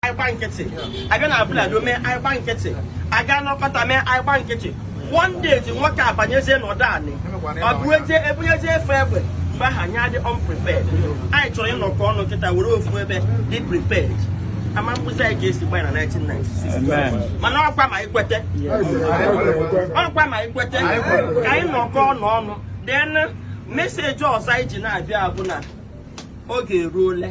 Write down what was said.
anyị gba nkịtị abịa na Abule Ado mee anyị gba nkịtị aga n'ọkpata mee anyị gba nkịtị one day ndị nwoke a banyezie n'obodo anyị ọ bụ eje ebunyezie efe egbe mgbe ahụ anyị adị unprepared anyị chọrọ ịnọkọ ọnụ kịta were ofu ebe dị prepared ama mkpụzi anyị ga-esi gbanye na 1996 mana ọkwa ma ikwete ọkwa ma ikwete ka anyị nọkọ ọnụ ọnụ then message ọzọ anyị ji na-abịa bụ na oge eruole